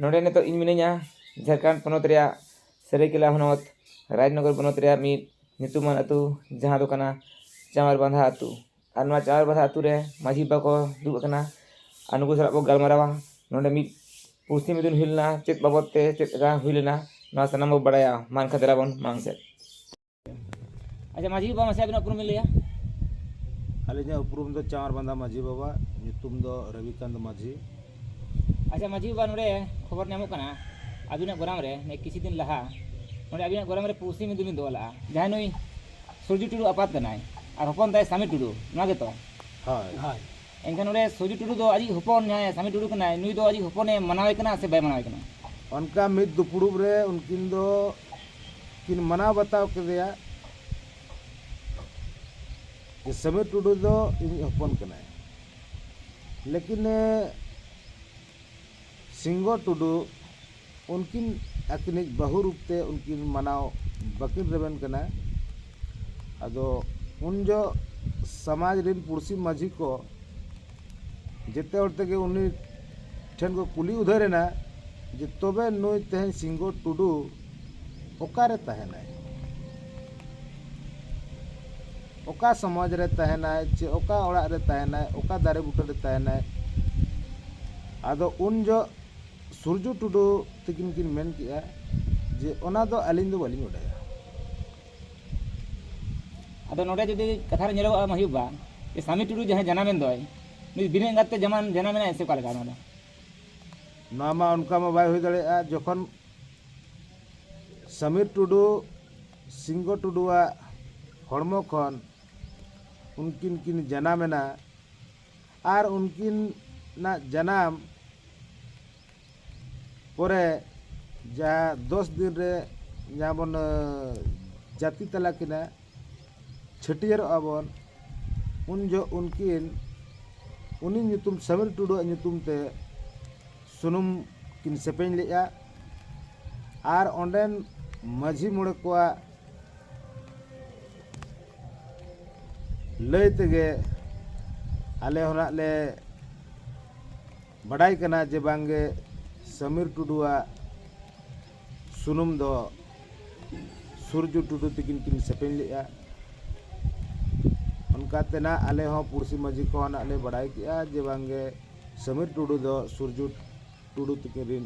ᱱᱚᱰᱮ ᱱᱤᱛᱚᱜ ᱤᱧ ᱢᱤᱱᱟᱹᱧᱟ ᱡᱷᱟᱲᱠᱷᱚᱸᱰ ᱯᱚᱱᱚᱛ ᱨᱮᱭᱟᱜ ᱥᱟᱹᱨᱟᱹᱭᱠᱮᱞᱟ ᱦᱚᱱᱚᱛ ᱨᱟᱡᱽᱱᱚᱜᱚᱨ ᱵᱚᱱᱚᱛ ᱨᱮᱭᱟᱜ ᱢᱤᱫ ᱧᱩᱛᱩᱢᱟᱱ ᱟᱹᱛᱩ ᱡᱟᱦᱟᱸ ᱫᱚ ᱠᱟᱱᱟ ᱪᱟᱶᱟᱨ ᱵᱟᱸᱫᱷᱟ ᱟᱹᱛᱩ ᱟᱨ ᱱᱚᱣᱟ ᱪᱟᱶᱟᱨ ᱵᱟᱸᱫᱷᱟ ᱟᱹᱛᱩ ᱨᱮ ᱢᱟᱹᱡᱷᱤ ᱵᱟᱵᱟ ᱠᱚ ᱫᱩᱲᱩᱵ ᱟᱠᱟᱱᱟ ᱟᱨ ᱱᱩᱠᱩ ᱥᱟᱞᱟᱜ ᱵᱚᱱ ᱜᱟᱞᱢᱟᱨᱟᱣᱟ ᱱᱚᱰᱮ ᱢᱤᱫ ᱯᱩᱲᱥᱤ ᱢᱤᱫᱩᱱ ᱦᱩᱭ ᱞᱮᱱᱟ ᱪᱮᱫ ᱵᱟᱵᱚᱫ ᱛᱮ ᱪᱮᱫ ᱞᱮᱠᱟ ᱦᱩᱭ ᱞᱮᱱᱟ ᱱᱚᱣᱟ ᱥᱟᱱᱟᱢ ᱵᱚᱱ ᱵᱟᱲᱟᱭᱟ ᱢᱟ ᱮᱱᱠᱷᱟᱱ ᱫᱮᱞᱟ ᱵᱚᱱ ᱢᱟᱲᱟᱝ ᱥᱮᱫ ᱟᱪᱪᱷᱟ ᱢᱟᱹᱡᱷᱤ ᱵᱟᱵᱟ ᱢᱟᱥᱮ ᱟᱵᱤᱱᱟᱜ ᱩᱯᱨᱩᱢ ᱵᱤᱱ ᱞᱟᱹᱭᱟ ᱟᱹᱞᱤᱧᱟᱜ ᱩᱯᱨᱩᱢ ᱫᱚ ᱪᱟᱶᱟᱨ ᱵᱟᱸᱫᱷᱟ ᱢᱟᱹᱡᱷᱤ ᱵᱟᱵᱟ ᱧᱩᱛᱩᱢ ᱫᱚ ᱨᱚᱵᱤᱠᱟᱱᱛ ᱢᱟᱹᱡᱷᱤ ᱟᱪᱪᱷᱟ ᱢᱟᱹᱡᱷᱤ ᱵᱟᱵᱟ ᱱᱚᱰᱮ ᱠᱷᱚᱵᱚᱨ ᱧᱟᱢᱚᱜ ᱠᱟᱱᱟ ᱟᱹᱵᱤᱱᱟᱜ ᱜᱚᱨᱟᱢ ᱨᱮ ᱱᱤᱭᱟᱹ ᱠᱤᱪᱷᱩ ᱫᱤᱱ ᱞᱟᱦᱟ ᱱᱚᱰᱮ ᱟᱹᱵᱤᱱᱟᱜ ᱜᱚᱨᱟᱢ ᱨᱮ ᱯᱩᱲᱥᱤ ᱢᱤᱫ ᱫᱚᱵᱤᱱ ᱫᱚᱦᱚ ᱞᱟᱜᱼᱟ ᱡᱟᱦᱟᱸᱭ ᱱᱩᱭ ᱥᱩᱨᱡᱤ ᱴᱩᱰᱩ ᱟᱯᱟᱛ ᱠᱟᱱᱟᱭ ᱟᱨ ᱦᱚᱯᱚᱱ ᱛᱟᱭ ᱥᱟᱢᱤ ᱴᱩᱰᱩ ᱱᱚᱣᱟ ᱜᱮᱛᱚ ᱦᱳᱭ ᱦᱳᱭ ᱮᱱᱠᱷᱟᱱ ᱱᱚᱰᱮ ᱥᱩᱨᱡᱤ ᱴᱩᱰᱩ ᱫᱚ ᱟᱡᱤᱡ ᱦᱚᱯᱚᱱ ᱡᱟᱦᱟᱸᱭ ᱥᱟᱢᱤ ᱴᱩᱰᱩ ᱠᱟᱱᱟᱭ ᱱᱩᱭ ᱫᱚ ᱟᱡᱤᱡ ᱦᱚᱯᱚᱱᱮ ᱢᱟᱱᱟᱣᱮ ᱠᱟᱱᱟ ᱥᱮ ᱵᱟᱭ ᱢᱟᱱᱟᱣᱮ ᱠᱟᱱᱟ ᱚᱱᱠᱟ ᱢᱤᱫ ᱫᱩᱯᱲᱩᱵ ᱨᱮ ᱩᱱᱠᱤᱱ ᱫᱚ ᱠᱤᱱ ᱢᱟᱱᱟᱣ ᱵᱟᱛᱟᱣ ᱠᱮᱫᱮᱭᱟ ᱡᱮ ᱥᱟᱢᱤᱨ ᱴᱩᱰᱩ ᱫᱚ ᱤᱧᱤᱡ ᱦᱚᱯᱚᱱ ᱠᱟᱱᱟᱭ ᱞᱮᱠᱤᱱ ᱥᱤᱝᱜᱚ ᱴᱩᱰᱩ ᱩᱱᱠᱤᱱ ᱟᱹᱠᱤᱱᱤᱡ ᱵᱟᱹᱦᱩ ᱨᱩᱯ ᱛᱮ ᱩᱱᱠᱤᱱ ᱢᱟᱱᱟᱣ ᱵᱟᱹᱠᱤᱱ ᱨᱮᱵᱮᱱ ᱠᱟᱱᱟ ᱟᱫᱚ ᱩᱱ ᱡᱚᱦᱚᱜ ᱥᱚᱢᱟᱡᱽ ᱨᱮᱱ ᱯᱩᱲᱥᱤ ᱢᱟᱹᱡᱷᱤ ᱠᱚ ᱡᱮᱛᱮ ᱦᱚᱲ ᱛᱮᱜᱮ ᱩᱱᱤ ᱴᱷᱮᱱ ᱠᱚ ᱠᱩᱞᱤ ᱩᱫᱷᱟᱹᱨ ᱮᱱᱟ ᱡᱮ ᱛᱚᱵᱮ ᱱᱩᱭ ᱛᱮᱦᱮᱧ ᱥᱤᱝᱜᱚ ᱴᱩᱰᱩ ᱚᱠᱟᱨᱮ ᱛᱟᱦᱮᱱᱟᱭ ᱚᱠᱟ ᱥᱚᱢᱟᱡᱽ ᱨᱮ ᱛᱟᱦᱮᱱᱟᱭ ᱪᱮ ᱚᱠᱟ ᱚᱲᱟᱜ ᱨᱮ ᱛᱟᱦᱮᱱᱟᱭ ᱚᱠᱟ ᱫᱟᱨᱮ ᱵᱩᱴᱟᱹ ᱨᱮ ᱛᱟᱦᱮᱱᱟᱭ ᱟᱫᱚ ᱩᱱ ᱡᱚᱦᱚᱜ ᱥᱩᱨᱡᱩ ᱴᱩᱰᱩ ᱛᱟᱹᱠᱤᱱ ᱠᱤᱱ ᱢᱮᱱ ᱠᱮᱜᱼᱟ ᱡᱮ ᱚᱱᱟ ᱫᱚ ᱟᱹᱞᱤᱧ ᱫᱚ ᱵᱟᱹᱞᱤᱧ ᱵᱟᱰᱟᱭᱟ ᱟᱫᱚ ᱱᱚᱰᱮ ᱡᱩᱫᱤ ᱠᱟᱛᱷᱟ ᱨᱮ ᱧᱮᱞᱚᱜᱼᱟ ᱢᱟᱹᱦᱤ ᱵᱟᱵᱟ ᱡᱮ ᱥᱟᱢᱤ ᱴᱩᱰᱩ ᱡᱟᱦᱟᱸᱭ ᱡᱟᱱᱟᱢᱮᱱ ᱫᱚᱭ ᱱᱩᱭ ᱵᱤᱱᱟᱹ ᱮᱸᱜᱟᱛ ᱛᱮ ᱡᱟᱱᱟᱢ ᱡᱟᱱᱟᱢᱮᱱᱟᱭ ᱥᱮ ᱚᱠᱟ ᱞᱮᱠᱟ ᱱᱚᱣᱟ ᱫᱚ ᱱᱚᱣᱟ ᱢᱟ ᱚᱱᱠᱟ ᱢᱟ ᱵᱟᱭ ᱦᱩᱭ ᱫᱟᱲᱮᱭᱟᱜᱼᱟ ᱡᱚᱠᱷᱚᱱ ᱥᱟᱢᱤᱨ ᱴᱩᱰᱩ ᱥᱤᱝᱜᱚ ᱴᱩᱰᱩᱣᱟᱜ ᱦᱚᱲᱢᱚ ᱠᱷᱚᱱ ᱩᱱᱠᱤᱱ ᱠᱤᱱ ᱡᱟᱱᱟᱢᱮᱱᱟ ᱟᱨ ᱩᱱᱠᱤᱱᱟᱜ ᱡᱟᱱᱟᱢ ᱯᱚᱨᱮ ᱡᱟᱦᱟᱸ ᱫᱚᱥ ᱫᱤᱱ ᱨᱮ ᱡᱟᱦᱟᱸ ᱵᱚᱱ ᱡᱟᱹᱛᱤ ᱛᱟᱞᱟ ᱠᱤᱱᱟ ᱪᱷᱟᱹᱴᱭᱟᱹᱨᱚᱜᱼᱟ ᱵᱚᱱ ᱩᱱ ᱡᱚᱦᱚᱜ ᱩᱱᱠᱤᱱ ᱩᱱᱤ ᱧᱩᱛᱩᱢ ᱥᱟᱢᱤᱞ ᱴᱩᱰᱩᱣᱟᱜ ᱧᱩᱛᱩᱢ ᱛᱮ ᱥᱩᱱᱩᱢ ᱠᱤᱱ ᱥᱮᱯᱮᱧ ᱞᱮᱫᱼᱟ ᱟᱨ ᱚᱸᱰᱮᱱ ᱢᱟᱹᱡᱷᱤ ᱢᱚᱬᱮ ᱠᱚᱣᱟᱜ ᱞᱟᱹᱭ ᱛᱮᱜᱮ ᱟᱞᱮ ᱦᱚᱸ ᱱᱟᱜ ᱞᱮ ᱵᱟᱰᱟᱭ ᱠᱟᱱᱟ ᱡᱮ ᱵᱟᱝ ᱜᱮ ᱥᱟᱢᱤᱨ ᱴᱩᱰᱩ ᱟᱜ ᱥᱩᱱᱩᱢ ᱫᱚ ᱥᱩᱨᱡᱩ ᱴᱩᱰᱩ ᱛᱤᱠᱤᱱ ᱠᱤᱱ ᱥᱮᱯᱮᱧ ᱞᱮᱫᱼᱟ ᱚᱱᱠᱟ ᱛᱮᱱᱟᱜ ᱟᱞᱮ ᱦᱚᱸ ᱯᱩᱲᱥᱤ ᱢᱟᱹᱡᱷᱤ ᱠᱷᱚᱱ ᱞᱮ ᱵᱟᱰᱟᱭ ᱠᱮᱫᱼᱟ ᱡᱮ ᱵᱟᱝ ᱜᱮ ᱥᱟᱢᱤᱨ ᱴᱩᱰᱩ ᱫᱚ ᱥᱩᱨᱡᱩ ᱴᱩᱰᱩ ᱛᱤᱠᱤᱱ ᱨᱮᱱ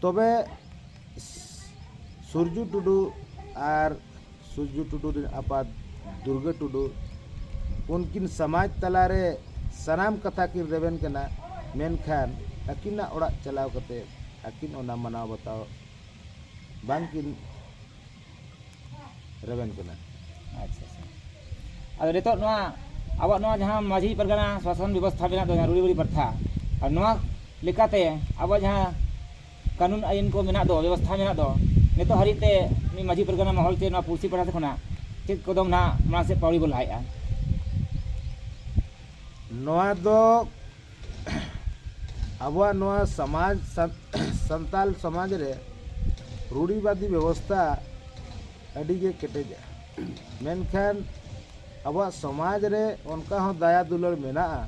ᱛᱚᱵᱮ ᱥᱩᱨᱡᱩ ᱴᱩᱰᱩ ᱟᱨ ᱥᱩᱨᱡᱩ ᱴᱩᱰᱩ ᱨᱮᱱ ᱟᱯᱟᱛ ᱫᱩᱨᱜᱟᱹ ᱴᱩᱰᱩ ᱩᱱᱠᱤᱱ ᱥᱚᱢᱟᱡᱽ ᱛᱟᱞᱟᱨᱮ ᱥᱟᱱᱟᱢ ᱠᱟᱛᱷᱟ ᱠᱤᱱ ᱨᱮᱵᱮᱱ ᱠᱟᱱᱟ ᱢᱮᱱᱠᱷᱟᱱ ᱟᱹᱠᱤᱱᱟᱜ ᱚᱲᱟᱜ ᱪᱟᱞᱟᱣ ᱠᱟᱛᱮ ᱟᱹᱠᱤᱱ ᱚᱱᱟ ᱢᱟᱱᱟᱣ ᱵᱟᱛᱟᱣ ᱵᱟᱝᱠᱤᱱ ᱨᱮᱵᱮᱱ ᱠᱟᱱᱟ ᱟᱪᱪᱷᱟ ᱟᱪᱪᱷᱟ ᱟᱫᱚ ᱱᱤᱛᱚᱜ ᱱᱚᱣᱟ ᱟᱵᱚᱣᱟᱜ ᱱᱚᱣᱟ ᱡᱟᱦᱟᱸ ᱢᱟᱹᱡᱷᱤ ᱯᱟᱨᱜᱟᱱᱟ ᱥᱟᱥᱚᱱ ᱵᱮᱵᱚᱥᱛᱷᱟ ᱢᱮᱱᱟᱜ ᱫᱚ ᱨᱩᱲᱤ ᱵᱩᱲᱤ ᱯᱨᱚᱛᱷᱟ ᱟᱨ ᱱᱚᱣᱟ ᱞᱮᱠᱟᱛᱮ ᱟᱵᱚᱣᱟᱜ ᱡᱟᱦᱟᱸ ᱠᱟᱹᱱᱩᱱ ᱟᱹᱭᱤᱱ ᱠᱚ ᱢᱮᱱᱟᱜ ᱫᱚ ᱵᱮᱵᱚᱥᱛᱷᱟ ᱢᱮᱱᱟᱜ ᱫᱚ ᱱᱤᱛᱚᱜ ᱦᱟᱹᱨᱤᱡ ᱛᱮ ᱱᱩᱭ ᱢᱟᱹᱡᱷᱤ ᱯᱟᱨᱜᱟᱱᱟ ᱢᱚᱦᱚᱞ ᱛᱮ ᱱᱚᱣᱟ ᱯᱩᱲᱥᱤ ᱯᱟᱲᱟ ᱠᱷᱚᱱᱟᱜ ᱪᱮᱫ ᱠᱚᱫᱚᱢ ᱱᱟᱜ ᱢᱟᱲᱟᱝ ᱥᱮᱫ ᱯᱟᱣᱲᱤ ᱵᱚ ᱞᱟᱦᱟᱭᱮᱜᱼᱟ ᱱᱚᱣᱟ ᱫᱚ ᱟᱵᱚᱣᱟᱜ ᱱᱚᱣᱟ ᱥᱚᱢᱟᱡᱽ ᱥᱟᱱᱛᱟᱲ ᱥᱚᱢᱟᱡᱽ ᱨᱮ ᱨᱩᱲᱤᱵᱟᱫᱤ ᱵᱮᱵᱚᱥᱛᱟ ᱟᱹᱰᱤ ᱜᱮ ᱠᱮᱴᱮᱡᱟ ᱢᱮᱱᱠᱷᱟᱱ ᱟᱵᱚᱣᱟᱜ ᱥᱚᱢᱟᱡᱽ ᱨᱮ ᱚᱱᱠᱟ ᱦᱚᱸ ᱫᱟᱭᱟ ᱫᱩᱞᱟᱹᱲ ᱢᱮᱱᱟᱜᱼᱟ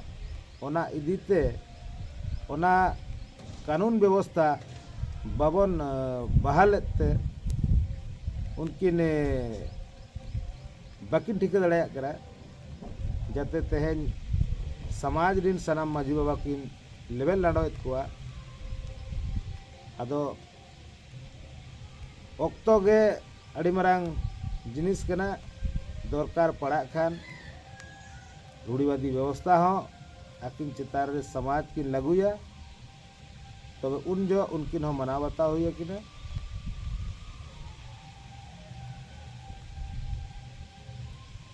ᱚᱱᱟ ᱤᱫᱤ ᱛᱮ ᱚᱱᱟ ᱠᱟᱹᱱᱩᱱ ᱵᱮᱵᱚᱥᱛᱟ ᱵᱟᱵᱚᱱ ᱵᱟᱦᱟᱞᱮᱫ ᱛᱮ ᱩᱱᱠᱤᱱ ᱵᱟᱹᱠᱤᱱ ᱴᱷᱤᱠᱟᱹ ᱫᱟᱲᱮᱭᱟᱜ ᱠᱟᱱᱟ ᱡᱟᱛᱮ ᱛᱮᱦᱮᱧ ᱥᱚᱢᱟᱡᱽ ᱨᱮᱱ ᱥᱟᱱᱟᱢ ᱢᱟᱹᱡᱷᱤ ᱵᱟᱵᱟ ᱠᱤᱱ ᱞᱮᱵᱮᱫ ᱞᱟᱸᱰᱚᱭᱮᱫ ᱠᱚᱣᱟ ᱟᱫᱚ ᱚᱠᱛᱚ ᱜᱮ ᱟᱹᱰᱤ ᱢᱟᱨᱟᱝ ᱡᱤᱱᱤᱥ ᱠᱟᱱᱟ ᱫᱚᱨᱠᱟᱨ ᱯᱟᱲᱟᱜ ᱠᱷᱟᱱ ᱨᱩᱲᱤᱵᱟᱫᱤ ᱵᱮᱵᱚᱥᱛᱟ ᱦᱚᱸ ᱟᱹᱠᱤᱱ ᱪᱮᱛᱟᱱ ᱨᱮ ᱥᱚᱢᱟᱡᱽ ᱠᱤᱱ ᱞᱟᱹᱜᱩᱭᱟ ᱛᱚᱵᱮ ᱩᱱ ᱡᱚᱦᱚᱜ ᱩᱱᱠᱤᱱ ᱦᱚᱸ ᱢᱟᱱᱟᱣ ᱵᱟᱛᱟᱣ ᱦᱩᱭ ᱟᱹᱠᱤᱱᱟ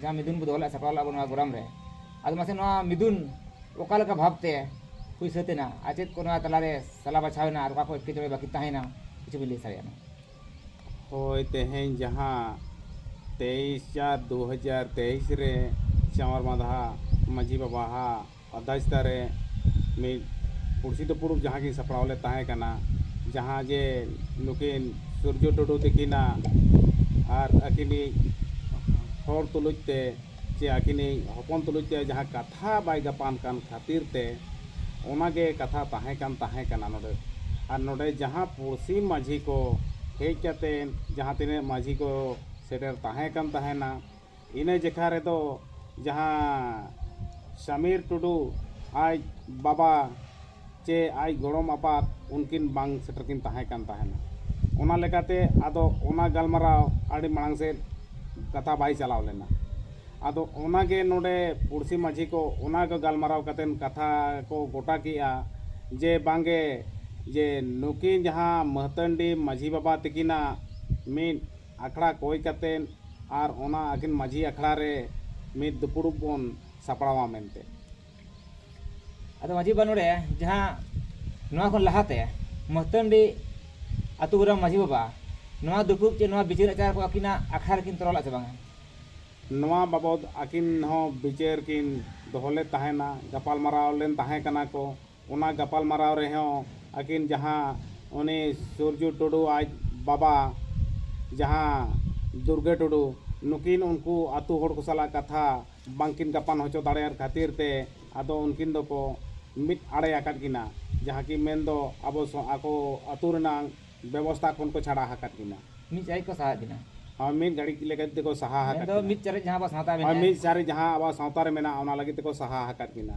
ᱡᱟᱦᱟᱸ ᱢᱤᱫᱩᱱ ᱵᱚ ᱫᱚᱦᱚ ᱞᱮᱫ ᱥᱟᱯᱲᱟᱣ ᱞᱮᱫ ᱵᱚ ᱱᱚᱣᱟ ᱜᱚᱨᱟᱢ ᱨᱮ ᱟᱫᱚ ᱢᱟᱥᱮ ᱱᱚᱣᱟ ᱢᱤᱫᱩᱱ ᱚᱠᱟ ᱞᱮᱠᱟ ᱵᱷᱟᱵᱽ ᱛᱮ ᱦᱩᱭ ᱥᱟᱹᱛ ᱮᱱᱟ ᱟᱨ ᱪᱮᱫ ᱠᱚ ᱱᱚᱣᱟ ᱛᱟᱞᱟ ᱨᱮ ᱥᱟᱞᱟ ᱵᱟᱪᱷᱟᱣ ᱮᱱᱟ ᱟᱨ ᱚᱠᱟ ᱠᱚ ᱮᱴᱠᱮᱴᱚᱬᱮ ᱵᱟᱹᱠᱤ ᱛᱟᱦᱮᱸᱭᱮᱱᱟ ᱠᱤᱪᱷᱩ ᱵᱤᱱ ᱞᱟᱹᱭ ᱥᱟᱰᱮᱭᱟᱜ ᱢᱟ ᱦᱳᱭ ᱛᱮᱦᱮᱧ ᱡᱟᱦᱟᱸ ᱛᱮᱭᱤᱥ ᱪᱟᱨ ᱫᱩ ᱦᱟᱡᱟᱨ ᱛᱮᱭᱤᱥ ᱨᱮ ᱪᱟᱶᱟᱨ ᱢᱟᱫᱷᱟ ᱢᱟᱹᱡᱷᱤ ᱵᱟᱵᱟᱣᱟᱜ ᱟᱨᱫᱟᱥ ᱫᱟᱨᱮ ᱢᱤᱫ ᱯᱩᱲᱥᱤ ᱫᱩᱯᱩᱲᱩᱵ ᱡᱟᱦᱟᱸ ᱜᱮ ᱥᱟᱯᱲᱟᱣ ᱞᱮᱫ ᱛᱟᱦᱮᱸ ᱠᱟᱱᱟ ᱡᱟᱦᱟᱸ ᱡᱮ ᱱᱩᱠᱤᱱ ᱥᱩᱨᱡᱚ ᱴᱩᱰᱩ ᱛᱟᱹᱠᱤᱱᱟᱜ ᱟᱨ ᱟᱹᱠᱤᱱᱤᱡ ᱦᱚᱲ ᱛᱩᱞᱩᱡ ᱛᱮ ᱪᱮ ᱟᱹᱠᱤᱱᱤᱡ ᱦᱚᱯᱚᱱ ᱛᱩᱞᱩᱡ ᱛᱮ ᱡᱟᱦᱟᱸ ᱠᱟᱛᱷᱟ ᱵᱟᱭ ᱜᱟᱯᱟᱱ ᱠᱟᱱ ᱠᱷᱟᱹᱛᱤᱨ ᱛᱮ ᱚᱱᱟ ᱜᱮ ᱠᱟᱛᱷᱟ ᱛᱟᱦᱮᱸ ᱠᱟᱱ ᱛᱟᱦᱮᱸ ᱠᱟᱱᱟ ᱱᱚᱰᱮ ᱟᱨ ᱱᱚᱰᱮ ᱡᱟᱦᱟᱸ ᱯᱩᱲᱥᱤ ᱢᱟᱹᱡᱷᱤ ᱠᱚ ᱦᱮᱡ ᱠᱟᱛᱮᱫ ᱡᱟᱦᱟᱸ ᱛᱤᱱᱟᱹᱜ ᱢᱟᱹᱡᱷᱤ ᱠᱚ ᱥᱮᱴᱮᱨ ᱛᱟᱦᱮᱸ ᱠᱟᱱ ᱛᱟᱦᱮᱱᱟ ᱤᱱᱟᱹ ᱡᱮᱠᱷᱟ ᱨᱮᱫᱚ ᱡᱟᱦᱟᱸ ᱥᱟᱢᱤᱨ ᱴᱩᱰᱩ ᱟᱡ ᱵᱟᱵᱟ ᱪᱮ ᱟᱡ ᱜᱚᱲᱚᱢ ᱟᱯᱟᱛ ᱩᱱᱠᱤᱱ ᱵᱟᱝ ᱥᱮᱴᱮᱨ ᱠᱤᱱ ᱛᱟᱦᱮᱸ ᱠᱟᱱ ᱛᱟᱦᱮᱱᱟ ᱚᱱᱟ ᱞᱮᱠᱟᱛᱮ ᱟᱫᱚ ᱚᱱᱟ ᱜᱟᱞᱢᱟᱨᱟᱣ ᱟᱹᱰᱤ ᱢᱟᱲᱟᱝ ᱥᱮᱫ ᱠᱟᱛᱷᱟ ᱵᱟᱭ ᱪᱟᱞᱟᱣ ᱞᱮᱱᱟ ᱟᱫᱚ ᱚᱱᱟ ᱜᱮ ᱱᱚᱰᱮ ᱯᱩᱬᱥᱤ ᱢᱟᱹᱡᱷᱤ ᱠᱚ ᱚᱱᱟ ᱜᱮ ᱜᱟᱞᱢᱟᱨᱟᱣ ᱠᱟᱛᱮ ᱠᱟᱛᱷᱟ ᱠᱚ ᱜᱚᱴᱟ ᱠᱮᱜᱼᱟ ᱡᱮ ᱵᱟᱝ ᱜᱮ ᱡᱮ ᱱᱩᱠᱤᱱ ᱡᱟᱦᱟᱸ ᱢᱟᱹᱦᱛᱟᱹᱱᱰᱤ ᱢᱟᱹᱡᱷᱤ ᱵᱟᱵᱟ ᱛᱟᱹᱠᱤᱱᱟᱜ ᱢᱤᱫ ᱟᱠᱷᱲᱟ ᱠᱚᱭ ᱠᱟᱛᱮ ᱟᱨ ᱚᱱᱟ ᱟᱹᱠᱤᱱ ᱢᱟᱹᱡᱷᱤ ᱟᱠᱷᱲᱟ ᱨᱮ ᱢᱤᱫ ᱫᱩᱯᱩᱲᱩᱵ ᱵᱚᱱ ᱥᱟᱯᱲᱟᱣᱟ ᱢᱮᱱᱛᱮ᱾ ᱟᱫᱚ ᱢᱟᱹᱡᱷᱤ ᱵᱟᱵᱟ ᱱᱚᱰᱮ ᱡᱟᱦᱟᱸ ᱱᱚᱣᱟ ᱠᱷᱚᱱ ᱞᱟᱦᱟ ᱛᱮ ᱢᱟᱹᱥᱛᱟᱹᱱᱰᱤ ᱟᱹᱛᱩ ᱜᱨᱟᱢ ᱢᱟᱹᱡᱷᱤ ᱵᱟᱵᱟ ᱱᱚᱣᱟ ᱫᱩᱯᱩᱲᱩᱵ ᱪᱮ ᱱᱚᱣᱟ ᱵᱤᱪᱟᱹᱨ ᱟᱪᱟᱨ ᱠᱚ ᱟᱹᱠᱤᱱᱟᱜ ᱟᱠᱷᱲᱟ ᱨᱮ ᱠᱤᱱ ᱛᱚᱨᱟᱣ ᱞᱮᱫᱼᱟ ᱥᱮ ᱵᱟᱝ ᱟ? ᱱᱚᱣᱟ ᱵᱟᱵᱚᱫᱽ ᱟᱹᱠᱤᱱ ᱦᱚᱸ ᱵᱤᱪᱟᱹᱨ ᱠᱤᱱ ᱫᱚᱦᱚ ᱞᱮᱫ ᱛᱟᱦᱮᱸᱱᱟ, ᱜᱟᱯᱟᱞᱢᱟᱨᱟᱣ ᱞᱮᱱ ᱛᱟᱦᱮᱸ ᱠᱟᱱᱟ ᱠᱚ᱾ ᱚᱱᱟ ᱜᱟᱯᱟᱞᱢᱟᱨᱟᱣ ᱨᱮᱦᱚᱸ ᱟᱹᱠᱤᱱ ᱡᱟᱦᱟᱸ ᱩᱱᱤ ᱥᱩᱨᱡᱩ ᱴᱩᱰᱩ ᱟᱡ ᱵᱟᱵᱟ ᱡᱟᱦᱟᱸ ᱫᱩᱨᱜᱟᱹ ᱴᱩᱰᱩ ᱱᱩᱠᱤᱱ ᱩᱱᱠᱩ ᱟᱛᱳ ᱦᱚᱲ ᱠᱚ ᱥᱟᱞᱟᱜ ᱠᱟᱛᱷᱟ ᱵᱟᱝ ᱠᱤᱱ ᱜᱟᱯᱟᱱ ᱦᱚᱪᱚ ᱫᱟᱲᱮᱭᱟᱫ ᱠᱷᱟᱹᱛᱤᱨ ᱛᱮ ᱟᱫᱚ ᱩᱱᱠᱤᱱ ᱫᱚᱠᱚ ᱢᱤᱫ ᱟᱲᱮ ᱟᱠᱟᱫ ᱠᱤᱱᱟ ᱡᱟᱦᱟᱸ ᱠᱤ ᱢᱮᱱ ᱫᱚ ᱟᱵᱚ ᱟᱠᱚ ᱟᱛᱳ ᱨᱮᱱᱟᱜ ᱵᱮᱵᱚᱥᱛᱟ ᱠᱷᱚᱱ ᱠᱚ ᱪᱷᱟᱰᱟ ᱟᱠᱟᱫ ᱠᱤᱱᱟ ᱢᱤᱫ ᱥᱟᱭ ᱠᱚ ᱥᱟᱦᱟᱣᱮᱫ ᱠᱤᱱᱟ ᱦᱳᱭ ᱢᱤᱫ ᱜᱷᱟᱹᱲᱤᱡ ᱞᱟᱹᱜᱤᱫ ᱛᱮᱠᱚ ᱥᱟᱦᱟ ᱟᱠᱟᱫ ᱠᱤᱱᱟ ᱢᱤᱫ ᱪᱟᱨᱮᱡ ᱡᱟᱦᱟᱸ ᱟᱵᱚ ᱥᱟᱶᱛᱟ ᱨᱮ ᱢᱮᱱᱟᱜᱼᱟ ᱢᱤᱫ ᱪᱟᱨᱮᱡ ᱡᱟᱦᱟᱸ ᱟᱵᱚ ᱥᱟᱶᱛᱟ ᱨᱮ ᱢᱮᱱᱟᱜᱼᱟ ᱚᱱᱟ ᱞᱟᱹᱜᱤᱫ ᱛᱮᱠᱚ ᱥᱟᱦᱟ ᱟᱠᱟᱫ ᱠᱤᱱᱟ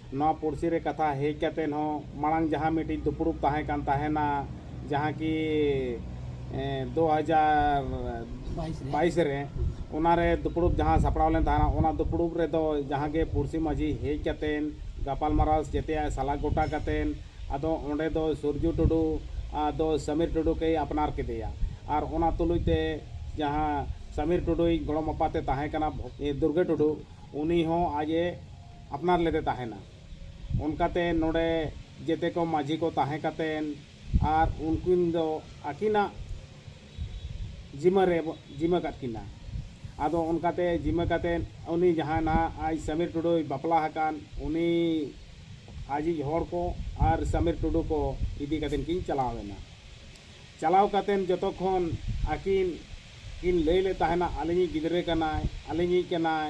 ᱱᱚᱣᱟ ᱯᱩᱲᱥᱤ ᱨᱮ ᱠᱟᱛᱷᱟ ᱦᱮᱡ ᱠᱟᱛᱮ ᱦᱚᱸ ᱢᱟᱲᱟᱝ ᱡᱟᱦᱟᱸ ᱢᱤᱫᱴᱤᱡ ᱫᱩᱯᱲᱩᱵ ᱛᱟᱦᱮᱸ ᱠᱟᱱ ᱛᱟᱦᱮᱱᱟ ᱡᱟᱦᱟᱸ ᱠᱤ ᱫᱩ ᱦᱟᱡᱟᱨ ᱵᱟᱭᱤᱥ ᱨᱮ ᱚᱱᱟ ᱨᱮ ᱫᱩᱯᱲᱩᱵ ᱡᱟᱦᱟᱸ ᱥᱟᱯᱲᱟᱣ ᱞᱮᱱ ᱛᱟᱦᱮᱱᱟ ᱚᱱᱟ ᱫᱩᱯᱲᱩᱵ ᱨᱮᱫᱚ ᱡᱟᱦᱟᱸ ᱜᱮ ᱯᱩᱲᱥᱤ ᱢᱟᱹᱡᱷᱤ ᱦᱮᱡ ᱠᱟᱛᱮ ᱜᱟᱯᱟᱞ ᱢᱟᱨᱟᱣ ᱡᱮᱛᱮᱭᱟᱜ ᱥᱟᱞᱟ ᱜᱚᱴᱟ ᱠᱟᱛᱮ ᱟᱫᱚ ᱚᱸᱰᱮ ᱫᱚ ᱥᱩᱨᱡᱩ ᱴᱩᱰᱩ ᱟᱫᱚ ᱥᱟᱢᱤᱨ ᱴᱩᱰᱩ ᱠᱮᱭ ᱟᱯᱱᱟᱨ ᱠᱮᱫᱮᱭᱟ ᱟᱨ ᱚᱱᱟ ᱛᱩᱞᱩᱡ ᱛᱮ ᱡᱟᱦᱟᱸ ᱥᱟᱢᱤᱨ ᱴᱩᱰᱩᱭᱤᱡ ᱜᱚᱲᱚᱢ ᱟᱯᱟᱛᱮ ᱛᱟᱦᱮᱸ ᱠᱟᱱᱟ ᱫᱩᱨᱜᱟᱹ ᱴᱩᱰᱩ ᱩᱱᱤ ᱦᱚᱸ ᱟᱡ ᱮ ᱟᱯᱱᱟᱨ ᱞᱮᱫᱮ ᱛᱟᱦᱮᱱᱟ᱾ ᱚᱱᱠᱟᱛᱮ ᱱᱚᱰᱮ ᱡᱮᱛᱮ ᱠᱚ ᱢᱟᱹᱡᱷᱤ ᱠᱚ ᱛᱟᱦᱮᱸ ᱠᱟᱛᱮᱱ ᱟᱨ ᱩᱱᱠᱤᱱ ᱫᱚ ᱟᱹᱠᱤᱱᱟᱜ ᱡᱤᱢᱟᱹ ᱨᱮ ᱵᱚ ᱡᱤᱢᱟᱹ ᱠᱟᱫ ᱠᱤᱱᱟ᱾ ᱟᱫᱚ ᱚᱱᱠᱟᱛᱮ ᱡᱤᱢᱟᱹ ᱠᱟᱛᱮᱱ ᱩᱱᱤ ᱡᱟᱦᱟᱸᱭ ᱱᱟᱦᱟᱜ ᱟᱡ ᱥᱟᱢᱤᱨ ᱴᱩᱰᱩᱭ ᱵᱟᱯᱞᱟ ᱦᱟᱠᱟᱱ ᱩᱱᱤ ᱟᱡᱤᱡ ᱦᱚᱲ ᱠᱚ ᱟᱨ ᱥᱟᱢᱤᱨ ᱴᱩᱰᱩ ᱠᱚ ᱤᱫᱤ ᱠᱟᱛᱮᱱ ᱠᱤᱱ ᱪᱟᱞᱟᱣ ᱮᱱᱟ᱾ ᱪᱟᱞᱟᱣ ᱠᱟᱛᱮᱱ ᱡᱚᱛᱚ ᱠᱷᱚᱱ ᱟᱹᱠᱤᱱ ᱠᱤᱱ ᱞᱟᱹᱭ ᱞᱮᱫ ᱛᱟᱦᱮᱱᱟ ᱟᱹᱞᱤᱧᱤᱡ ᱜᱤᱫᱽᱨᱟᱹ ᱠᱟᱱᱟᱭ, ᱟᱹᱞᱤᱧᱤᱡ ᱠᱟᱱᱟᱭ,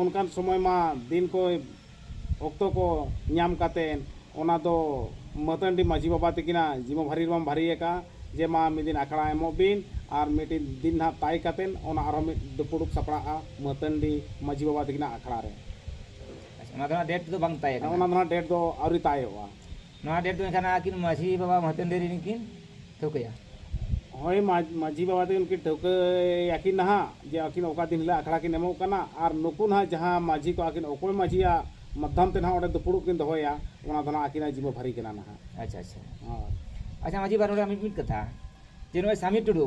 ᱚᱱᱠᱟᱱ ᱥᱚᱢᱚᱭ ᱢᱟ ᱫᱤᱱ ᱠᱚ ᱚᱠᱛᱚ ᱠᱚ ᱧᱟᱢ ᱠᱟᱛᱮ ᱚᱱᱟ ᱫᱚ ᱢᱟᱹᱛᱟᱹᱱᱰᱤ ᱢᱟᱹᱡᱷᱤ ᱵᱟᱵᱟ ᱛᱟᱹᱠᱤᱱᱟᱜ ᱡᱤᱢᱟᱹ ᱵᱷᱟᱹᱨᱤ ᱨᱮᱵᱚᱱ ᱵᱷᱟᱹᱨᱤ ᱟᱠᱟᱫᱼᱟ ᱡᱮ ᱢᱟ ᱢᱤᱫ ᱫᱤᱱ ᱟᱠᱷᱲᱟ ᱮᱢᱚᱜ ᱵᱤᱱ ᱟᱨ ᱢᱤᱫᱴᱤᱡ ᱫᱤᱱ ᱱᱟᱦᱟᱜ ᱛᱟᱭ ᱠᱟᱛᱮ ᱚᱱᱟ ᱟᱨᱦᱚᱸ ᱢᱤᱫ ᱫᱩᱯᱩᱲᱩᱵ ᱥᱟᱯᱲᱟᱜᱼᱟ ᱢᱟᱹᱛᱟᱹᱱᱰᱤ ᱢᱟᱹᱡᱷᱤ ᱵᱟᱵᱟ ᱛᱟᱹᱠᱤᱱᱟᱜ ᱟᱠᱷᱲᱟ ᱨᱮ᱾ ᱟᱪᱪᱷᱟ ᱚᱱᱟ ᱫᱚ ᱱᱟᱦᱟᱜ ᱰᱮᱴ ᱫᱚ ᱵᱟᱝ ᱛᱟᱭ ᱟᱠᱟᱱᱟ? ᱚᱱᱟ ᱫᱚ ᱱᱟᱦᱟᱜ ᱰᱮᱴ ᱫᱚ ᱟᱹᱣᱨᱤ ᱛᱟᱭᱚᱜᱼᱟ᱾ ᱱᱚᱣᱟ ᱰᱮᱴ ᱫᱚ ᱮᱱᱠᱷᱟᱱ ᱟᱹᱠᱤᱱ ᱢᱟᱹᱡᱷᱤ ᱵᱟᱵᱟ ᱢᱟᱹᱦᱟᱛᱮᱱ ᱫᱮᱨᱤ ᱨᱤᱱ ᱠᱤᱱ ᱴᱷᱟᱹᱣᱠᱟᱹᱭᱟ ᱦᱳᱭ ᱢᱟᱹᱡᱷᱤ ᱵᱟᱵᱟ ᱛᱟᱹᱠᱤᱱ ᱠᱤᱱ ᱴᱷᱟᱹᱣᱠᱟᱹᱭᱟᱠᱤᱱ ᱱᱟᱦᱟᱜ ᱡᱮ ᱟᱹᱠᱤᱱ ᱚᱠᱟ ᱫᱤᱱ ᱦᱤᱞᱳᱜ ᱟᱠᱷᱲᱟ ᱠᱤᱱ ᱮᱢᱚᱜ ᱠᱟᱱᱟ ᱟᱨ ᱱᱩᱠᱩ ᱱᱟᱦᱟᱜ ᱡᱟᱦᱟᱸ ᱢᱟᱹᱡᱷᱤ ᱠᱚ ᱟᱹᱠᱤᱱ ᱚᱠᱚᱭ ᱢᱟᱹᱡᱷᱤᱭᱟᱜ ᱢᱟᱫᱽᱫᱷᱚᱢ ᱛᱮ ᱱᱟᱦᱟᱜ ᱚᱸᱰᱮ ᱫᱩᱯᱲᱩᱵ ᱠᱤᱱ ᱫᱚᱦᱚᱭᱟ ᱚᱱᱟ ᱫᱚ ᱱᱟᱦᱟᱜ ᱟᱹᱠᱤᱱᱟᱜ ᱡᱤᱢᱟᱹ ᱵᱷᱟᱹᱨᱤ ᱠᱟᱱᱟ ᱱᱟᱦᱟᱜ ᱟᱪᱪᱷᱟ ᱟᱪᱪᱷᱟ ᱦᱳᱭ ᱟᱪᱪᱷᱟ ᱢᱟᱹᱡᱷᱤ ᱵᱟᱵᱟ ᱱᱚᱰᱮ ᱢᱤᱫ ᱢᱤᱫ ᱠᱟᱛᱷᱟ ᱡᱮ ᱱᱚᱜᱼᱚᱭ ᱥᱟᱢᱤ ᱴᱩᱰᱩ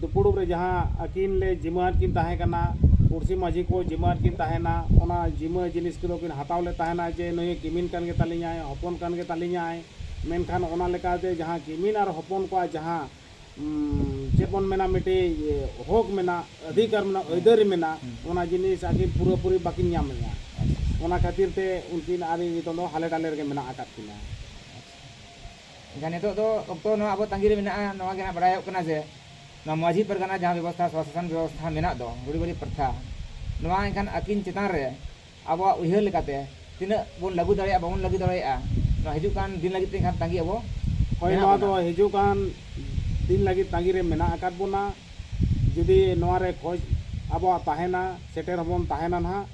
ᱫᱩᱯᱩᱲᱩᱵ ᱨᱮ ᱡᱟᱦᱟᱸ ᱟᱹᱠᱤᱱ ᱞᱮ ᱡᱤᱢᱟᱹ ᱟᱫ ᱠᱤᱱ ᱛᱟᱦᱮᱸ ᱠᱟᱱᱟ ᱯᱩᱲᱥᱤ ᱢᱟᱹᱡᱷᱤ ᱠᱚ ᱡᱤᱢᱟᱹ ᱟᱫ ᱠᱤᱱ ᱛᱟᱦᱮᱱᱟ ᱚᱱᱟ ᱡᱤᱢᱟᱹ ᱡᱤᱱᱤᱥ ᱠᱚᱫᱚ ᱠᱤᱱ ᱦᱟᱛᱟᱣ ᱞᱮᱫ ᱛᱟᱦᱮᱱᱟ ᱡᱮ ᱱᱩᱭ ᱠᱤᱢᱤᱱ ᱠᱟᱱ ᱜᱮ ᱛᱟᱹᱞᱤᱧᱟᱭ ᱦᱚᱯᱚᱱ ᱠᱟᱱ ᱜᱮ ᱛᱟᱹᱞᱤᱧᱟᱭ ᱢᱮᱱᱠᱷᱟᱱ ᱚᱱᱟ ᱞᱮᱠᱟᱛᱮ ᱡᱟᱦᱟᱸ ᱠᱤᱢᱤᱱ ᱟᱨ ᱦᱚᱯᱚᱱ ᱠᱚᱣᱟᱜ ᱡᱟᱦᱟᱸ ᱪᱮᱫ ᱵᱚᱱ ᱢᱮᱱᱟ ᱢᱤᱫᱴᱤᱡ ᱦᱚᱠ ᱢᱮᱱᱟᱜ ᱚᱫᱷᱤᱠᱟᱨ ᱢᱮᱱᱟᱜ ᱟᱹᱭᱫᱟᱹᱨᱤ ᱢᱮᱱᱟᱜ ᱚᱱᱟ ᱡᱤᱱᱤᱥ ᱟᱹᱠᱤᱱ ᱯᱩᱨᱟᱹ ᱯᱩᱨᱤ ᱵᱟᱹᱠᱤᱱ ᱧᱟᱢ ᱞᱮᱫᱟ ᱚᱱᱟ ᱠᱷᱟᱹᱛᱤᱨ ᱛᱮ ᱩᱱᱠᱤᱱ ᱟᱨ ᱤᱧ ᱱᱤᱛᱚᱝ ᱫᱚ ᱦᱟᱞᱮ ᱰᱟᱞᱮ ᱨᱮᱜᱮ ᱢᱮᱱᱟᱜ ᱟᱠᱟᱫ ᱠᱤᱱᱟ ᱮᱱᱠᱷᱟᱱ ᱱᱤᱛᱚᱜ ᱫᱚ ᱚᱠᱛᱚ ᱱᱚᱣᱟ ᱟᱵᱚ ᱛᱟᱺᱜᱤ ᱨᱮ ᱢᱮᱱᱟᱜᱼᱟ ᱱᱚᱣᱟ ᱜᱮ ᱱᱟᱦᱟᱜ ᱵᱟᱰᱟᱭᱚᱜ ᱠᱟᱱᱟ ᱡᱮ ᱱᱚᱣᱟ ᱢᱟᱺᱡᱷᱤ ᱯᱟᱨᱜᱟᱱᱟ ᱡᱟᱦᱟᱸ ᱵᱮᱵᱚᱥᱛᱷᱟ ᱥᱚᱼᱥᱟᱥᱚᱱ ᱵᱮᱵᱚᱥᱛᱷᱟ ᱢᱮᱱᱟᱜ ᱫᱚ ᱨᱩᱲᱤᱵᱟᱹᱲᱤ ᱯᱨᱚᱛᱷᱟ ᱱᱚᱣᱟ ᱮᱱᱠᱷᱟᱱ ᱟᱹᱠᱤᱱ ᱪᱮᱛᱟᱱ ᱨᱮ ᱟᱵᱚᱣᱟᱜ ᱩᱭᱦᱟᱹᱨ ᱞᱮᱠᱟᱛᱮ ᱛᱤᱱᱟᱹᱜ ᱵᱚᱱ ᱞᱟᱹᱜᱩ ᱫᱟᱲᱮᱭᱟᱜᱼᱟ ᱵᱟᱵᱚᱱ ᱞᱟᱹᱜᱩ ᱫᱟᱲᱮᱭᱟᱜᱼᱟ ᱱᱚᱣᱟ ᱦᱤᱡᱩᱜ ᱠᱟᱱ ᱫᱤᱱ ᱞᱟᱹᱜᱤᱫ ᱛᱮ ᱮᱱᱠᱷᱟᱱ ᱛᱟᱺᱜᱤ ᱟᱵᱚ ᱦᱳᱭ ᱱᱚᱣᱟ ᱫᱚ ᱦᱤᱡᱩᱜ ᱠᱟᱱ ᱫᱤᱱ ᱞᱟᱹᱜᱤᱫ ᱛᱟᱺᱜᱤ ᱨᱮ ᱢᱮᱱᱟᱜ ᱟᱠᱟᱫ ᱵᱚᱱᱟ ᱡᱩᱫᱤ ᱱᱚᱣᱟ ᱨᱮ ᱠᱷᱚᱡᱽ ᱟᱵᱚᱣᱟᱜ ᱛᱟᱦᱮᱱᱟ ᱥᱮᱴᱮᱨ ᱦᱚᱸᱵᱚᱱ ᱛᱟᱦᱮᱱᱟ ᱱᱟᱦᱟᱜ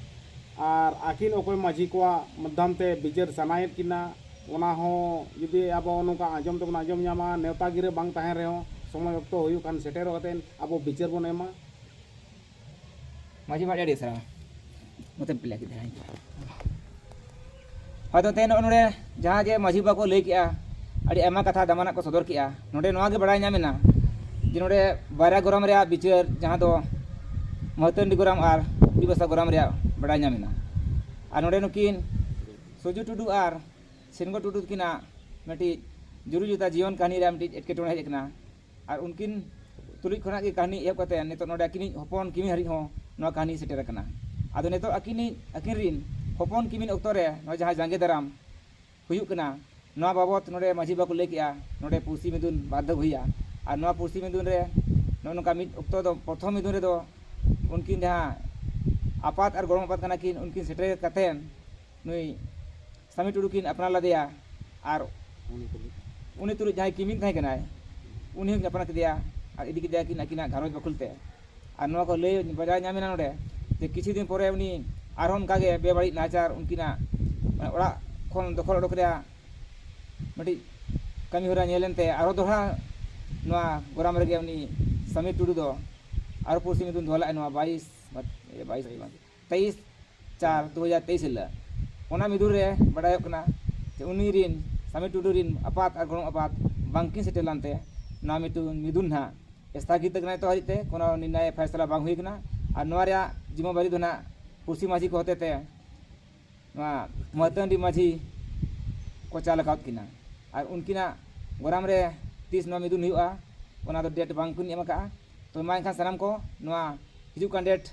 ᱟᱨ ᱟᱹᱠᱤᱱ ᱚᱠᱚᱭ ᱢᱟᱺᱡᱷᱤ ᱠᱚᱣᱟᱜ ᱢᱟᱫᱽᱫᱷᱚᱢ ᱛᱮ ᱵᱤᱪᱟᱹᱨ ᱥᱟᱱᱟᱭᱮᱫ ᱠᱤᱱᱟ ᱚᱱᱟ ᱦᱚᱸ ᱡᱩᱫᱤ ᱟᱵᱚ ᱱᱚᱝᱠᱟ ᱟᱸᱡᱚᱢ ᱛᱮᱵᱚᱱ ᱟᱸᱡᱚᱢ ᱧᱟᱢᱟ ᱱᱮᱣᱛᱟ ᱜᱤᱨᱟᱹ ᱵᱟᱝ ᱛᱟᱦᱮᱱ ᱨᱮᱦᱚᱸ ᱥᱚᱢᱚᱭ ᱚᱠᱛᱚ ᱦᱩᱭᱩᱜ ᱠᱷᱟᱱ ᱥᱮᱴᱮᱨᱚᱜ ᱠᱟᱛᱮ ᱟᱵᱚ ᱵᱤᱪᱟᱹᱨ ᱵᱚᱱ ᱮᱢᱟ᱾ ᱢᱟᱹᱡᱷᱤ ᱵᱟᱵᱟ ᱟᱹᱰᱤ ᱥᱟᱨᱦᱟᱣ ᱢᱚᱛᱚᱵ ᱯᱮ ᱞᱟᱹᱭ ᱠᱮᱫᱟ ᱦᱚᱭᱛᱚ ᱛᱮᱦᱮᱧ ᱱᱚᱜᱼᱚᱭ ᱱᱚᱰᱮ ᱡᱟᱦᱟᱸ ᱡᱮ ᱢᱟᱹᱡᱷᱤ ᱵᱟᱵᱟ ᱠᱚ ᱞᱟᱹᱭ ᱠᱮᱜᱼᱟ ᱟᱹᱰᱤ ᱟᱭᱢᱟ ᱠᱟᱛᱷᱟ ᱫᱟᱢᱟᱱᱟᱜ ᱠᱚ ᱥᱚᱫᱚᱨ ᱠᱮᱜᱼᱟ ᱱᱚᱰᱮ ᱱᱚᱣᱟ ᱜᱮ ᱵᱟᱲᱟᱭ ᱧᱟᱢᱮᱱᱟ ᱡᱮ ᱱᱚᱰᱮ ᱵᱟᱨᱭᱟ ᱜᱚᱨᱟᱢ ᱨᱮᱭᱟᱜ ᱵᱤᱪᱟᱹᱨ ᱡᱟᱦᱟᱸ ᱫᱚ ᱢᱟᱹᱛᱟᱹᱱᱰᱤ ᱜᱚᱨᱟᱢ ᱟᱨ ᱠᱩᱲᱤᱵᱟᱥᱟ ᱜᱚᱨᱟᱢ ᱨᱮᱭᱟᱜ ᱵᱟᱲᱟᱭ ᱧᱟᱢᱮᱱᱟ ᱟᱨ ᱱᱚᱰᱮ ᱱᱩᱠᱤᱱ ᱥᱩᱡᱩ ᱴᱩᱰᱩ ᱟᱨ ᱥᱤᱱᱜᱚ ᱴᱩᱰᱩ ᱛᱟᱹᱠᱤᱱᱟᱜ ᱢᱤᱫᱴᱤᱡ ᱡᱩᱨᱤ ᱡᱚᱛᱟ ᱡᱤᱭᱚᱱ ᱠᱟᱹᱦᱱᱤ ᱨᱮᱭᱟᱜ ᱢᱤᱫᱴᱤᱡ ᱮᱴᱠᱮᱴᱚᱬᱮ ᱦᱮᱡ ᱟᱠᱟᱱᱟ ᱟᱨ ᱩᱱᱠᱤᱱ ᱛᱩᱞᱩᱡ ᱠᱷᱚᱱᱟᱜ ᱜᱮ ᱠᱟᱹᱦᱱᱤ ᱮᱦᱚᱵ ᱠᱟᱛᱮ ᱱᱤᱛᱚᱜ ᱱᱚᱰᱮ ᱟᱹᱠᱤᱱᱤᱡ ᱦᱚᱯᱚᱱ ᱠᱤᱢᱤᱱ ᱦᱟᱹᱨᱤᱡ ᱦᱚᱸ ᱱᱚᱣᱟ ᱠᱟᱹᱦᱱᱤ ᱥᱮᱴᱮᱨ ᱟᱠᱟᱱᱟ ᱟᱫᱚ ᱱᱤᱛᱚᱜ ᱟᱹᱠᱤᱱᱤᱡ ᱟᱹᱠᱤᱱ ᱨᱤᱱ ᱦᱚᱯᱚᱱ ᱠᱤᱢᱤᱱ ᱚᱠᱛᱚ ᱨᱮ ᱱᱚᱜᱼᱚᱭ ᱡᱟᱦᱟᱸ ᱡᱟᱸᱜᱮ ᱫᱟᱨᱟᱢ ᱦᱩᱭᱩᱜ ᱠᱟᱱᱟ ᱱᱚᱣᱟ ᱵᱟᱵᱚᱛ ᱱᱚᱰᱮ ᱢᱟᱹᱡᱷᱤ ᱵᱟᱵᱟ ᱠᱚ ᱞᱟᱹᱭ ᱠᱮᱜᱼᱟ ᱱᱚᱰᱮ ᱯᱩᱲᱥᱤ ᱢᱤᱫᱩᱱ ᱵᱟᱨ ᱫᱷᱟᱣ ᱦᱩᱭᱩᱜᱼᱟ ᱟᱨ ᱱᱚᱣᱟ ᱯᱩᱲᱥᱤ ᱢᱤᱫᱩᱱ ᱨᱮ ᱱᱚᱜᱼᱚ ᱱᱚᱝᱠᱟ ᱢᱤᱫ ᱚᱠᱛᱚ ᱫᱚ ᱯᱨᱚᱛᱷᱚᱢ ᱢᱤᱫᱩᱱ ᱨᱮᱫᱚ ᱩᱱᱠᱤᱱ ᱡᱟᱦᱟᱸ ᱟᱯᱟᱛ ᱟᱨ ᱜᱚᱲᱚᱢ ᱟᱯᱟᱛ ᱠᱟᱱᱟ ᱠᱤᱱ ᱩᱱᱠᱤᱱ ᱥᱮᱴᱮᱨ ᱠᱟᱛᱮ ᱱᱩᱭ ᱥᱟᱢᱤ ᱴᱩᱰᱩ ᱠᱤᱱ ᱟᱯᱱᱟᱨ ᱞᱮᱫᱮᱭᱟ ᱟᱨ ᱩᱱᱤ ᱛᱩᱞᱩᱡ ᱡᱟᱦᱟᱸᱭ ᱠᱤᱢᱤᱱ ᱛᱟᱦᱮᱸ ᱠᱟᱱᱟᱭ ᱩᱱᱤ ᱦᱚᱸᱠᱤᱱ ᱟᱯᱱᱟᱨ ᱠᱮᱫᱮᱭᱟ ᱟᱨ ᱤᱫᱤ ᱠᱮᱫᱮᱭᱟᱠᱤᱱ ᱟᱹᱠᱤᱱᱟᱜ ᱜᱷᱟᱨᱚᱸᱡᱽ ᱵᱟᱠᱷᱳᱞ ᱛᱮ ᱟᱨ ᱱᱚᱣᱟ ᱠᱚ ᱞᱟᱹᱭ ᱵᱟᱰᱟᱭ ᱧᱟᱢ ᱮᱱᱟ ᱱᱚᱰᱮ ᱡᱮ ᱠᱤᱪᱷᱩ ᱫᱤᱱ ᱯᱚᱨᱮ ᱩᱱᱤ ᱟᱨᱦᱚᱸ ᱚᱱᱠᱟ ᱜᱮ ᱵᱮᱵᱟᱹᱲᱤᱡ ᱱᱟᱦᱟᱪᱟᱨ ᱩᱱᱠᱤᱱᱟᱜ ᱚᱲᱟᱜ ᱠᱷᱚᱱ ᱫᱚᱠᱷᱚᱞ ᱚᱰᱚᱠ ᱨᱮᱭᱟᱜ ᱢᱤᱫᱴᱤᱡ ᱠᱟᱹᱢᱤ ᱦᱚᱨᱟ ᱧᱮᱞ ᱮᱱᱛᱮ ᱟᱨᱦᱚᱸ ᱫᱚᱦᱲᱟ ᱱᱚᱣᱟ ᱜᱚᱨᱟᱢ ᱨᱮᱜᱮ ᱩᱱᱤ ᱥᱟᱢᱤᱨ ᱴᱩᱰᱩ ᱫᱚ ᱟᱨᱦᱚᱸ ᱯᱩᱲᱥᱤ ᱧᱩᱛᱩᱢ ᱫᱚᱦᱚ ᱞᱮᱫᱼᱟᱭ ᱱᱚᱣᱟ ᱵᱟᱭᱤᱥ ᱵᱟᱭᱤᱥ ᱫᱚ ᱵᱟᱝ ᱛᱮᱭᱤᱥ ᱪᱟᱨ ᱫᱩ ᱦᱟᱡᱟᱨ ᱛᱮᱭᱤᱥ ᱦᱤᱞᱟᱹᱜ ᱚᱱᱟ ᱢᱤᱫᱩᱱ ᱨᱮ ᱵᱟᱰᱟᱭᱚᱜ ᱠᱟᱱᱟ ᱡᱮ ᱩᱱᱤ ᱨᱤᱱ ᱥᱟᱢᱤ ᱴᱩᱰᱩ ᱨᱤᱱ ᱟᱯᱟᱛ ᱟᱨ ᱜᱚᱲᱚᱢ ᱟᱯᱟᱛ ᱵᱟᱝ ᱠᱤᱱ ᱥᱮᱴᱮᱨ ᱞᱮᱱ ᱛᱮ ᱱᱚᱣᱟ ᱢᱤᱫᱴᱮᱱ ᱢᱤᱫᱩᱱ ᱱᱟᱦᱟᱜ ᱮᱥᱛᱷᱟᱜᱤᱛ ᱟᱠᱟᱱᱟ ᱱᱤᱛᱚᱜ ᱦᱟᱹᱨᱤᱡ ᱛᱮ ᱠᱳᱱᱳ ᱱᱤᱨᱱᱟᱭ ᱯᱷᱟᱭᱥᱟᱞᱟ ᱵᱟᱝ ᱦᱩᱭ ᱟᱠᱟᱱᱟ ᱟᱨ ᱱᱚᱣᱟ ᱨᱮᱭᱟᱜ ᱡᱤᱢᱟᱹ ᱵᱟᱨᱤ ᱫᱚ ᱱᱟᱦᱟᱜ ᱯᱩᱲᱥᱤ ᱢᱟᱹᱡᱷᱤ ᱠᱚ ᱦᱚᱛᱮᱛᱮ ᱱᱚᱣᱟ ᱢᱟᱹᱛᱟᱹᱱᱰᱤ ᱢᱟᱹᱡᱷᱤ ᱠᱚ ᱪᱟᱞ ᱟᱠᱟᱫ ᱠᱤᱱᱟ ᱟᱨ ᱩᱱᱠᱤᱱᱟᱜ ᱜᱚᱨᱟᱢ ᱨᱮ ᱛᱤᱥ ᱱᱚᱣᱟ ᱢᱤᱫᱩᱱ ᱦᱩᱭᱩᱜᱼᱟ ᱚᱱᱟ ᱫᱚ ᱰᱮᱴ ᱵᱟᱝ ᱠᱤᱱ ᱮᱢ ᱟᱠᱟᱫᱼᱟ ᱛᱚ ᱢᱟ ᱮᱱᱠᱷᱟᱱ ᱥᱟᱱᱟᱢ ᱠᱚ ᱱᱚᱣᱟ ᱦᱤᱡᱩᱜ ᱠᱟᱱ ᱰᱮᱴ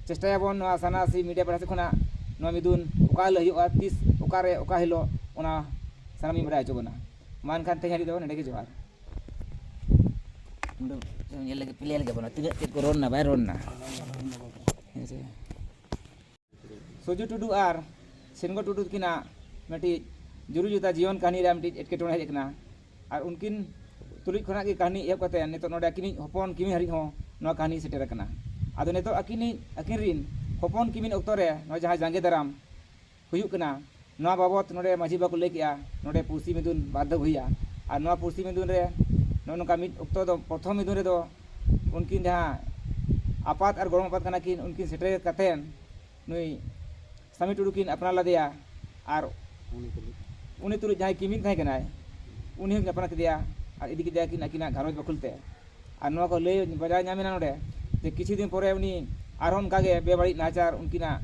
ᱪᱮᱥᱴᱟᱭᱟᱵᱚᱱ ᱱᱚᱣᱟ ᱥᱟᱨᱱᱟ ᱥᱤ ᱢᱤᱰᱤᱭᱟ ᱯᱟᱦᱴᱟ ᱥᱮᱫ ᱠᱷᱚᱱᱟᱜ ᱱᱚᱣᱟ ᱢᱤᱫᱩᱱ ᱚᱠᱟ ᱦᱤᱞᱳᱜ ᱦᱩᱭᱩᱜᱼᱟ ᱛᱤᱥ ᱚᱠᱟᱨᱮ ᱚᱠᱟ ᱦᱤᱞᱳᱜ ᱚᱱᱟ ᱥᱟᱱᱟᱢ ᱤᱧ ᱵᱟᱰᱟᱭ ᱦᱚᱪᱚ ᱵᱚᱱᱟ ᱢᱟ ᱮᱱᱠᱷᱟᱱ ᱛᱮᱦᱮᱧ ᱦᱟᱹᱵᱤᱡ ᱫᱚ ᱱᱚᱰᱮ ᱜᱮ ᱡᱚᱦᱟᱨ ᱧᱮᱞ ᱞᱮᱜᱮ ᱯᱞᱮ ᱞᱮᱜᱮ ᱵᱚᱱᱟ ᱛᱤᱱᱟᱹᱜ ᱪᱮᱫ ᱠᱚ ᱨᱚᱲᱱᱟ ᱵᱟᱭ ᱨᱚᱲᱱᱟ ᱦᱮᱸ ᱥᱮ ᱥᱚᱡᱩ ᱴᱩᱰᱩ ᱟᱨ ᱥᱤᱱᱜᱚ ᱴᱩᱰᱩ ᱛᱟᱹᱠᱤᱱᱟᱜ ᱢᱤᱫᱴᱤᱡ ᱡᱩᱨᱤ ᱡᱚᱛᱟ ᱡᱤᱭᱚᱱ ᱠᱟᱹᱦᱱᱤ ᱨᱮ ᱢᱤᱫᱴᱤᱡ ᱮᱴᱠᱮᱴᱚᱬᱮ ᱦᱮᱡ ᱟᱠᱟᱱᱟ ᱟᱨ ᱩᱱᱠᱤᱱ ᱛᱩᱞᱩᱡ ᱠᱷᱚᱱᱟᱜ ᱜᱮ ᱠᱟᱹᱦᱱᱤ ᱮᱦᱚᱵ ᱠᱟᱛᱮ ᱱᱤᱛᱚᱜ ᱱᱚᱰᱮ ᱟᱹᱠᱤᱱᱤᱡ ᱦᱚᱯᱚᱱ ᱠᱤᱢᱤᱱ ᱦᱟᱹᱨᱤᱡ ᱦᱚᱸ ᱱᱚᱣᱟ ᱠᱟᱹᱦᱱᱤ ᱥᱮᱴᱮᱨ ᱟᱠᱟᱱᱟ ᱟᱫᱚ ᱱᱤᱛᱚᱜ ᱟᱹᱠᱤᱱᱤᱡ ᱟᱹᱠᱤᱱ ᱨᱤᱱ ᱦᱚᱯᱚᱱ ᱠᱤᱢᱤᱱ ᱚᱠᱛᱚ ᱨᱮ ᱱᱚᱣᱟ ᱡᱟᱦᱟᱸ ᱡᱟᱸᱜᱮ ᱫᱟᱨᱟᱢ ᱦᱩᱭᱩᱜ ᱠᱟᱱᱟ ᱱᱚᱣᱟ ᱵᱟᱵᱚᱛ ᱱᱚᱰᱮ ᱢᱟᱹᱡᱷᱤ ᱵᱟᱵᱟ ᱠᱚ ᱞᱟᱹᱭ ᱠᱮᱫᱼᱟ ᱱᱚᱰᱮ ᱯᱩᱲᱥᱤ ᱢᱤᱫᱩᱱ ᱵᱟᱨ ᱫᱷᱟᱣ ᱦᱩᱭᱩᱜᱼᱟ ᱟᱨ ᱱᱚᱣᱟ ᱯᱩᱲᱥᱤ ᱢᱤᱫᱩᱱ ᱨᱮ ᱱᱚᱜᱼᱚ ᱱᱚᱝᱠᱟ ᱢᱤᱫ ᱚᱠᱛᱚ ᱫᱚ ᱯᱨᱚᱛᱷᱚᱢ ᱢᱤᱫᱩᱱ ᱨᱮᱫᱚ ᱩᱱᱠᱤᱱ ᱡᱟᱦᱟᱸ ᱟᱯᱟᱛ ᱟᱨ ᱜᱚᱲᱚᱢ ᱟᱯᱟᱛ ᱠᱟᱱᱟ ᱠᱤᱱ ᱩᱱᱠᱤᱱ ᱥᱮᱴᱮᱨ ᱠᱟᱛᱮᱫ ᱱᱩᱭ ᱥᱟᱢᱤ ᱴᱩᱰᱩ ᱠᱤᱱ ᱟᱯᱱᱟᱨ ᱞᱮᱫᱮᱭᱟ ᱟᱨ ᱩᱱᱤ ᱛᱩᱞᱩᱡ ᱡᱟᱦᱟᱸᱭ ᱠᱤᱢᱤᱱ ᱛᱟᱦᱮᱸ ᱠᱟᱱᱟᱭ ᱩᱱᱤ ᱦᱚᱸᱠᱤᱱ ᱟᱯᱱᱟᱨ ᱠᱮᱫᱮᱭᱟ ᱟᱨ ᱤᱫᱤ ᱠᱮᱫᱮᱭᱟᱠᱤᱱ ᱟᱹᱠᱤᱱᱟᱜ ᱜᱷᱟᱨᱚᱸᱡᱽ ᱵᱟᱹᱠᱷᱩᱞ ᱛᱮ ᱟᱨ ᱱᱚᱣᱟ ᱠᱚ ᱞᱟᱹᱭ ᱵᱟᱰᱟᱭ ᱧᱟᱢᱮᱱᱟ ᱱᱚᱰᱮ ᱡᱮ ᱠᱤᱪᱷᱩ ᱫᱤᱱ ᱯᱚᱨᱮ ᱩᱱᱤ ᱟᱨᱦᱚᱸ ᱚᱱᱠᱟ ᱜᱮ ᱵᱮᱵᱟᱹᱲᱤᱡ ᱱᱟᱦᱟᱪᱟᱨ ᱩᱱᱠᱤᱱᱟᱜ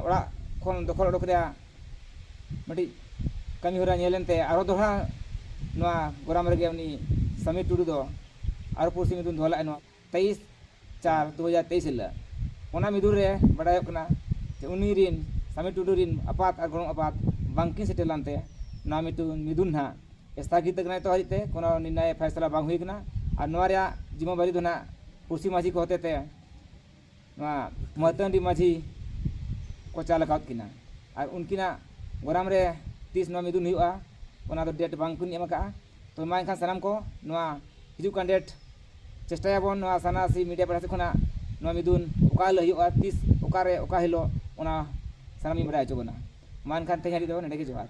ᱚᱲᱟᱜ ᱠᱷᱚᱱ ᱫᱚᱠᱷᱚᱞ ᱚᱰᱚᱠ ᱨᱮᱭᱟᱜ ᱢᱤᱫᱴᱤᱡ ᱠᱟᱹᱢᱤ ᱦᱚᱨᱟ ᱧᱮᱞ ᱮᱱᱛᱮ ᱟᱨᱦᱚᱸ ᱫᱚᱦᱲᱟ ᱱᱚᱣᱟ ᱜᱚᱨᱟᱢ ᱨᱮᱜᱮ ᱩᱱᱤ ᱥᱟᱢᱤᱨ ᱴᱩᱰᱩ ᱫᱚ ᱟᱨᱦᱚᱸ ᱯᱩᱲᱥᱤ ᱢᱤᱫᱩᱱ ᱫᱚᱦᱚ ᱞᱮᱫᱼᱟᱭ ᱱᱚᱣᱟ ᱛᱮᱭᱤᱥ ᱪᱟᱨ ᱫᱩ ᱦᱟᱡᱟᱨ ᱛᱮᱭᱤᱥ ᱦᱤᱞᱳᱜ ᱚᱱᱟ ᱢᱤᱫᱩᱱ ᱨᱮ ᱵᱟᱰᱟᱭᱚᱜ ᱠᱟᱱᱟ ᱡᱮ ᱩᱱᱤ ᱨᱮᱱ ᱥᱟᱢᱤᱨ ᱴᱩᱰᱩ ᱨᱮᱱ ᱟᱯᱟᱛ ᱟᱨ ᱜᱚᱲᱚᱢ ᱟᱯᱟᱛ ᱵᱟᱝᱠᱤᱱ ᱥᱮᱴᱮᱨ ᱞᱮᱱᱛᱮ ᱱᱚᱣᱟ ᱢᱤᱫᱩᱱ ᱢᱤᱫᱩᱱ ᱦᱟᱸᱜ ᱥᱛᱷᱟᱜᱤᱛ ᱟᱠᱟᱱᱟ ᱱᱤᱛᱚᱜ ᱦᱟᱹᱨᱤᱡ ᱛᱮ ᱠᱳᱱᱳ ᱱᱤᱨᱱᱟᱭ ᱯᱷᱟᱭᱥᱟᱞᱟ ᱵᱟᱝ ᱦᱩᱭ ᱟᱠᱟᱱᱟ ᱟᱨ ᱱᱚᱣᱟ ᱨᱮᱭᱟᱜ ᱡᱤᱢᱟᱹ ᱵᱟᱹᱨᱤ ᱫᱚ ᱱᱟᱜ ᱯᱩᱲᱥᱤ ᱢᱟᱹᱡᱷᱤ ᱠᱚ ᱦᱚᱛᱮ ᱛᱮ ᱱᱚᱣᱟ ᱢᱟᱹᱛᱟᱹᱱᱰᱤ ᱢᱟᱹᱡᱷᱤ ᱠᱚ ᱪᱟᱞ ᱟᱠᱟᱫ ᱠᱤᱱᱟ ᱟᱨ ᱩᱱᱠᱤᱱᱟᱜ ᱜᱚᱨᱟᱢ ᱨᱮ ᱛᱤᱥ ᱱᱚᱣᱟ ᱢᱤᱫᱩᱱ ᱦᱩᱭᱩᱜᱼᱟ ᱚᱱᱟ ᱫᱚ ᱰᱮᱴ ᱵᱟᱝ ᱠᱤᱱ ᱮᱢ ᱟᱠᱟᱫᱼᱟ ᱛᱚ ᱢᱟ ᱮᱱᱠᱷᱟᱱ ᱥᱟᱱᱟᱢ ᱠᱚ ᱱᱚᱣᱟ ᱦᱤᱡᱩᱜ ᱠᱟᱱ ᱰᱮᱴ ᱪᱮᱥᱴᱟᱭᱟᱵᱚᱱ ᱱᱚᱣᱟ ᱥᱟᱨᱱᱟ ᱥᱤ ᱢᱤᱰᱤᱭᱟ ᱯᱟᱦᱴᱟ ᱥᱮᱫ ᱠᱷᱚᱱᱟᱜ ᱱᱚᱣᱟ ᱢᱤᱫᱩᱱ ᱚᱠᱟ ᱦᱤᱞᱳᱜ ᱦᱩᱭᱩᱜᱼᱟ ᱛᱤᱥ ᱚᱠᱟ ᱨᱮ ᱚᱠᱟ ᱦᱤᱞᱳᱜ ᱚᱱᱟ ᱥᱟᱱᱟᱢ ᱤᱧ ᱵᱟᱰᱟᱭ ᱦᱚᱪᱚ ᱵᱚᱱᱟ ᱢᱟ ᱮᱱᱠᱷᱟᱱ ᱛᱮᱦᱮᱧ ᱦᱟᱹᱨᱤᱡ ᱫᱚ ᱱᱚᱰᱮ ᱜᱮ ᱡᱚᱦᱟᱨ